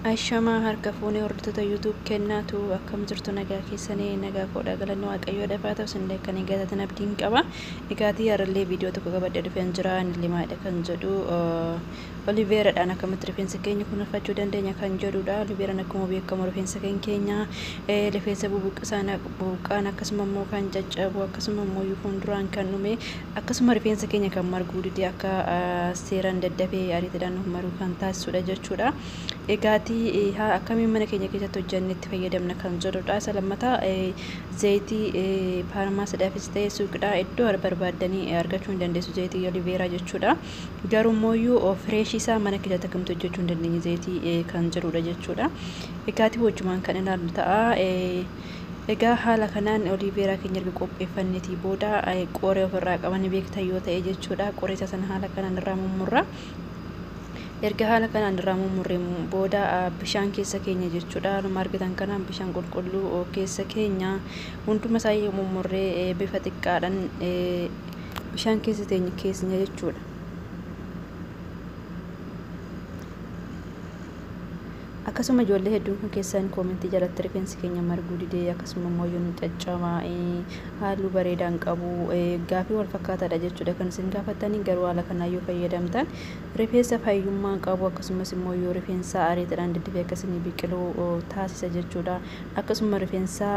Ashamaa harka fuunee hordoftoota YouTube kennaa tu akkam jirtu nagaa keessanii nagaa koodha galanni waaqayyoo dafaa ta'u sinillee kan hin galatatan abdiin qaba dhigaatii harallee viidiyoo tokko qabadhe dhufeen jira inni limaadha kan jedhu oliveeradhaan akkamitti rifeensa keenya kunuunfachuu dandeenya kan jedhudha oliveeraan akkuma beekamu rifeensa kan keenya rifeensa bubuqqisaan buqqaan akkasuma immoo kan caccabu akkasuma immoo fuulduraan kan dhume Akkasuma rifeensa keenya kan marguu dide akka seeran daddafee ariitidhaan nuuf maruu kan taasisudha jechuudha. Egaati haa akkamiin mana keenya keessatti hojjannee itti fayyadamna kan jedhudha. Isa lammataa zayitii faarmaasiidhaafis ta'ee suuqidhaa iddoo barbaaddanii argachuu ni dandeessu zayitii oliveeraa jechuudha. Garuu immoo fireeshii isaa mana keessatti akkamitti hojjechuu hin dandeenye zayitii kan jedhudha jechuudha. Egaati wajjumaan kan ilaallu ta'a. Egaa haala kanaan oliiveeraa keenya erga qopheeffanneetii booda qoree ofirraa qaba ni beektan yoo ta'e jechuudha. Qoree isa sana haala kanaan irraa mummurra. Erga haala kanaan irraa mummurreen booda bishaan keessa keenya jechuudha. Haaluma argitan kanaan bishaan qulqulluu keessa keenya hunduma isaa yoo mummurree bifa xiqqaadhaan bishaan keessa teenya keenya jechuudha. Akkasuma ijoollee hedduun kan keessan koomentii jalatti rifeensi keenya marguu didee akkasuma immoo yoo nu caccamaa'e halluu bareedaa hin qabu gaafii wal fakkaataadha jechuudha kan isin gaafattanii garuu haala kanaa yoo fayyadamtan rifeensa fayyummaa qabu akkasumas immoo yoo rifeensa ariitiidhaan diddifee akka isinii biqilu taasisa jechuudha akkasuma rifeensa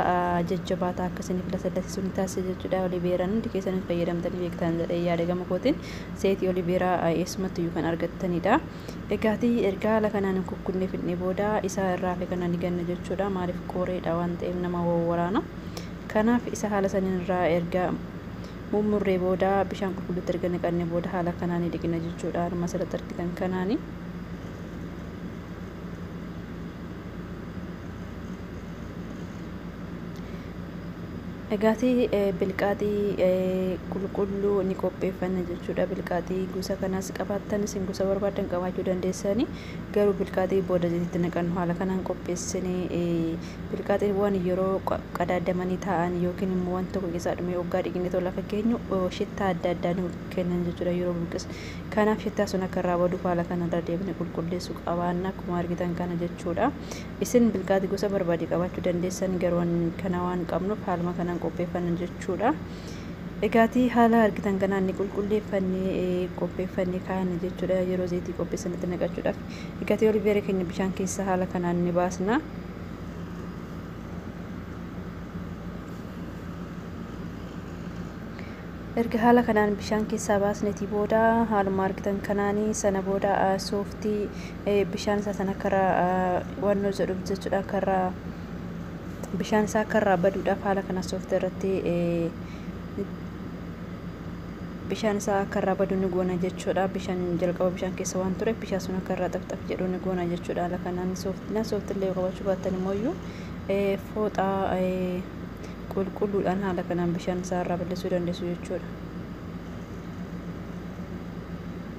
jajjabaataa akka isiniif lasallasisu ni taasisa jechuudha oliveeraan hundi keessan fayyadamtanii beektan jedhee yaada gama kootiin seetii oliveeraa eessumatti iyyuu kan argattanidha. Egaati erga haala kanaan hin kukkunne fidne booda isaa irra hafe kana ni ganna jechuudha. Maaliif qooreedha waan ta'eef nama wawwaraana. Kanaaf isa haala saniin irraa erga mummurree booda bishaan qulqulluutti erga naqanne booda haala kanaan ni dhiqina jechuudha. Harma asirratti argitan kanaani. Egaati bilqaaxii qulqulluu ni qopheeffanna jechuudha. Bilqaaxii gosa kanaas qabaattan isin gosa barbaaddan qabaachuu dandeessani. Garuu bilqaaxii booda zayititti naqannu haala kanaan qopheessine bilqaaxiiwwan yeroo qadaadamanii taa'an yookiin immoo wanti tokko keessaa dhumee waggaa dhiqnee tola akka keenyu shittaa adda addaa nu kennan jechuudha yeroo buqqis. Kanaaf shittaa sun akka irraa baduuf haala kanarra deebine qulqulleessuu qabaanna akkuma argitan kana jechuudha. Isin bilgaati gosa barbaade qabaachuu dandeessan garuu an kana waan qabnuuf haaluma kanaan qopheeffanna jechuudha. Egaatii haala argitan kanaan ni qulqulleeffannee eh, qopheeffannee kaa'anna jechuudha yeroo zayitii qopheessanitti naqachuudhaaf. Egaatii oliveera keenya bishaan keessa haala kanaan ni baasna. Erga haala kanaan bishaan keessaa baasnetii booda haaluma argitan kanaanii sana booda ah, sooftii bishaan isaa sana akka irraa wannoo jedhuuf jechuudha akka irraa bishaan isaa akka irraa baduudhaaf haala kana soofta irratti bishaan isaa akka irraa badu ni goona jechuudha bishaan jalqaba bishaan keessa waan ture bishaan sun akka irraa xafxaf jedhu ni goona jechuudha haala kanaan sooftina sooftillee qabachuu baattan immoo iyyuu fooxaa qulqulluudhaan haala kanaan bishaan isaa irraa balleessuu dandeessu jechuudha.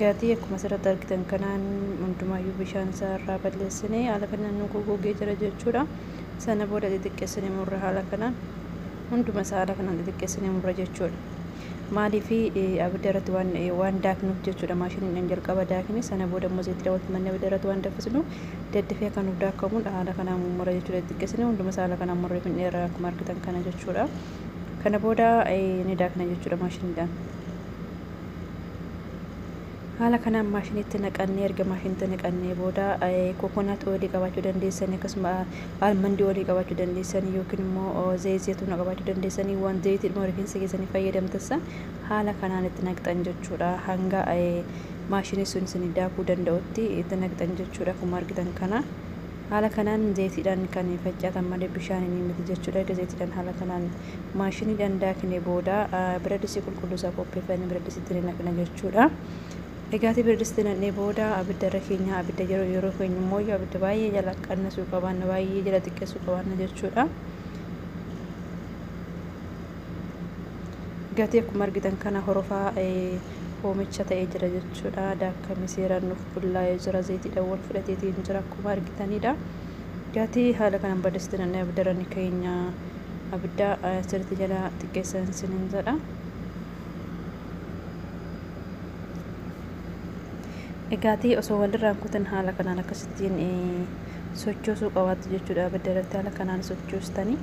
Gatii akkuma asirratti argitan kanaan hundumaayyuu bishaan isaa irraa balleessinee haala kanaan nu gogogee jira jechuudha. Sana booda xixiqqeessinee murra haala kanaan hunduma isaa haala kanaan xixiqqeessinee murra jechuudha. Maaliif abidda irratti waan waan daaknuuf jechuudha maashiniidhaan jalqaba daakne sana booda immoo zayitii daawwatu manni abidda irratti waan daffisnu daddafee akka nuuf daakamuudha haala kanaan mummura jechuudha xixiqqeessinee hunduma isaa haala kanaan murree fidneerra akkuma argitan kana jechuudha. Kana booda ni daakna jechuudha maashiniidhaan. haala kanaan maashinitti naqannee erga maashinitti naqannee booda kokonaat oolii qabaachuu dandeessanii akkasuma almandii oolii qabaachuu dandeessanii yookiin immoo zayit zeetuuna qabaachuu dandeessanii waan zayitiidhuma rifeensa keessanii fayyadamtassa haala kanaan itti naqxan jechuudha hanga maashinii sun isin daakuu danda'utti itti naqxan jechuudha akkuma argitan kana. Haala kanaan zeytiidhaan kan facaatan malee bishaaniin miti jechuudha. Erga zeytiidhaan haala kanaan maashiniidhaan daakne booda biradisii qulqulluu isaa qopheeffanne biradisiitti ni naqna jechuudha. Egaati biradisiitti naqnee booda abidda irra keenya abidda yeroo yeroo keenya immoo abidda baay'ee jala qannasuu qabaanna baay'ee jala xiqqeessuu qabaanna jechuudha. gatee akkuma argitan kana horofaa hoomicha ta'ee jira jechuudha. Daakkamni seeraan nuuf bullaa'ee jira. Zayitiidhaan wal fudhateetiin jira akkuma argitanidha. Gatii haala kanaan balleessite nanne abdarani keenya abidda sirriitti jala xiqqeessan sinin jedha. Gaatii osoo walirraan kutan haala kanaan akkasittiin sochoosuu qabaattu jechuudha. Abidda irratti haala kanaan sochoostanii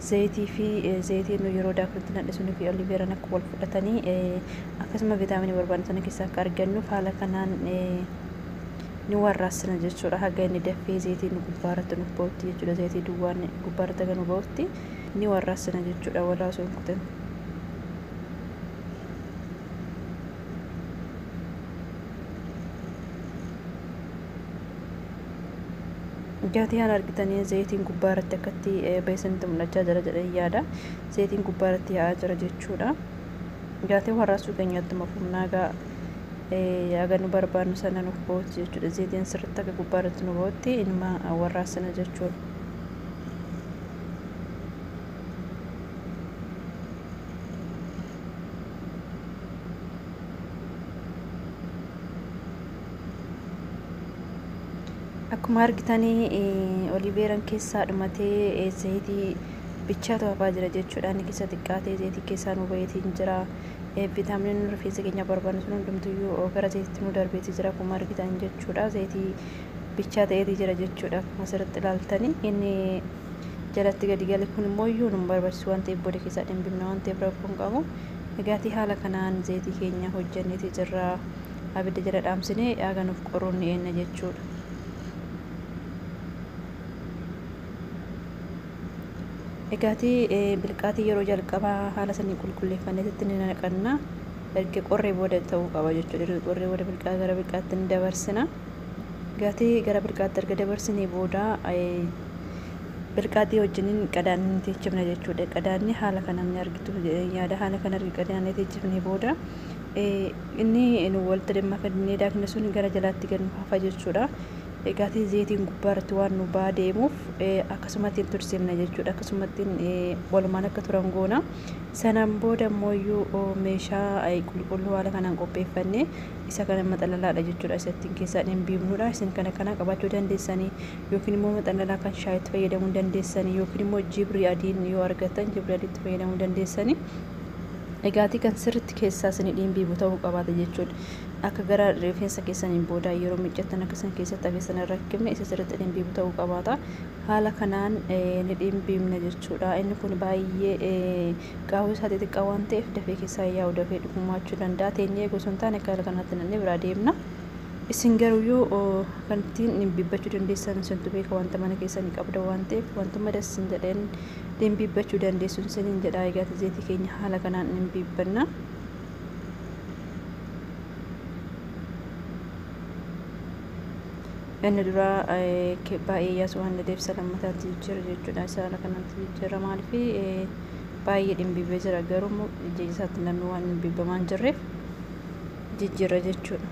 Zayitii fi zayitii nu yeroo daaknutti nadhe sunii fi oliveeraan akka wal fudhatanii akkasuma vitaaminii barbaadnu sana keessaa akka argannuuf haala kanaan ni warraassina jechuudha. Haga inni dafee zayitiin gubbaarratti nuuf ba'utti jechuudha. Zayitii duwwaan gubbaarratti haga nu ba'utti ni warraassina jechuudha walaa osoo hin kutin. Gatii an argitanii zayitiin gubbaa irratti akkatti beeksanitti mul'achaa jira jedhee yaada. Zayitiin gubbaa irratti yaa'aa jira jechuudha. Gatii warraasuu keenyatti mafumnaagaa aga nu barbaannu sana nuuf ba'uutti jechuudha. Zayitiin sirriitti akka gubbaa irratti nu ba'utti inuma warraasina jechuudha. akkuma argitanii olii beeran keessaa dhumatee zayitii bichaatu hafaa jira jechuudha inni keessa xiqqaatee zayitii keessaa nu bayeetiin jira viitaaminiin rifeensa keenya barbaannu sun hundumtuyyuu gara zayititti nu darbeeti jira akkuma argitan jechuudha zayitii bichaa ta'eeti jira jechuudha akkuma asirratti ilaaltanii inni jalatti gadi gale kun immoo iyyuu nu barbaachisu waan ta'eef booda keessaa dhimbifna waan ta'eef rakkoon qabu dhugaatii haala kanaan zayitii keenya hojjanneeti jirra. abidda jala dhaamsinee haga nuuf qoruun ni eenna jechuudha. Egaatii bilqaatii yeroo jalqabaa haala saniin qulqulleeffanneetitti ni naqanna. Erga qorree booda ta'uu qaba jechuudha. Erga qorree booda bilqaa gara bilqaatti ni dabarsina. Gaatii gara bilqaatti erga dabarsinee booda bilqaatii wajjiniin qadaadni ni teechifna jechuudha. Qadaadni haala kanaan ni argitu jedheen yaada. Haala kan argi qadaadni teechifnee booda Inni nu walitti damma fidnee daakne sun gara jalaatti gad nu hafa jechuudha. Egaati zeetiin gubbaa irratti waan nu baa deemuuf akkasumattiin tursiimna jechuudha. Akkasumattiin walumaan akka turan goona. Sanaan booda immooyyuu meeshaa qulqulluu haala kanaan qopheeffannee isa kana maxalalaadha jechuudha. Isa ittiin keessaan hin biifnudha. Isin kana kanaa qabaachuu dandeessanii yookiin immoo maxalalaa kan shaayitti fayyadamuu dandeessanii yookiin immoo jibrii adiin yoo argattan jibrii adiitti fayyadamuu dandeessanii. Egaatii kan sirritti keessaa sini dhiinbiibu ta'uu qabaata jechuun akka gara rifeensa keessaniin boodaa yeroo miccattan akka isin keessatti akka isin irra kibne isa sirritti dhiinbiibu ta'uu qabaata. Haala kanaan ni dhiinbiibna jechuudha. Inni kun baay'ee qaawwee isaa xixiqqaa waan ta'eef dafee keessaa yaa'u dafee dhufumaachuu danda'a. Teenyee eeguu osoo hin taane akka haala kanaatti nannee biraa deemna. Isin garuyyuu kan ittiin dhiinbiibbachuu dandeessan isintu beeka wanta mana keessanii qabda waan ta'eef wantumma das isin jedheen dhimbiibbachuu dandeessuun isiniin jedha egaati zeetii keenya haala kanaan dhimbiibbanna inni duraa baay'ee yaasuu waan dadeef isa lammataatti jijjiira jechuudha isa haala kanatti jijjiira maaliif baay'ee dhimbiibbee jira garuu immoo jijjiirri isaatti namni waan dhimbiibbamaan jirreef jijjiira jechuudha.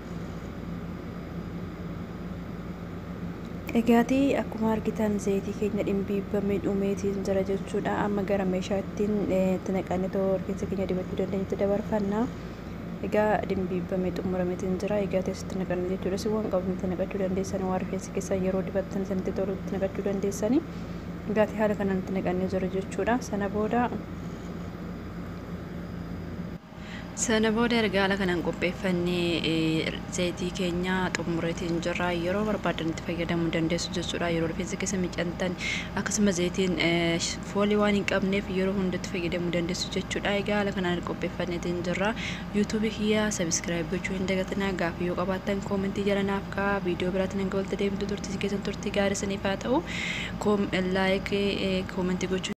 Egaati akkuma argitan zayitii keenya dhimbiibbame dhumeetiin jira jechuudha. Amma gara meeshaa ittiin itti naqannee too rifeensa keenya dibachuu dandeenyutti dabarfanna. Egaa dhimbiibbame xumurameetiin jira. Egaa teessi itti naqanna jechuudha. Si waan qabnu itti naqachuu dandeessan waan rifeensi keessaa yeroo dibattan sanitti tolu itti naqachuu dandeessani. Egaati haala kanaan itti naqannee jira jechuudha. Sana booda Sana booda erga haala kanaan qopheeffannee zayitii keenya xumureetiin jirra. Yeroo barbaaddan itti fayyadamuu dandeessu jechuudha. Yeroo rifeensa keessa miicantan akkasuma zayitiin foolii waan hin qabneef yeroo hunda itti fayyadamuu dandeessu jechuudha. Egaa haala kanaan qopheeffanneetiin jirra. Yuutuubii kiyya sabiskiraayib gochuu hin dagatinaa. Gaaffii yoo qabaattan koomentii jala naaf ka'a. Viidiyoo biraatiin hanga walitti deemtu turtiin keessan turtii gaarii isiniif haa ta'u. Laayik koomentii gochuu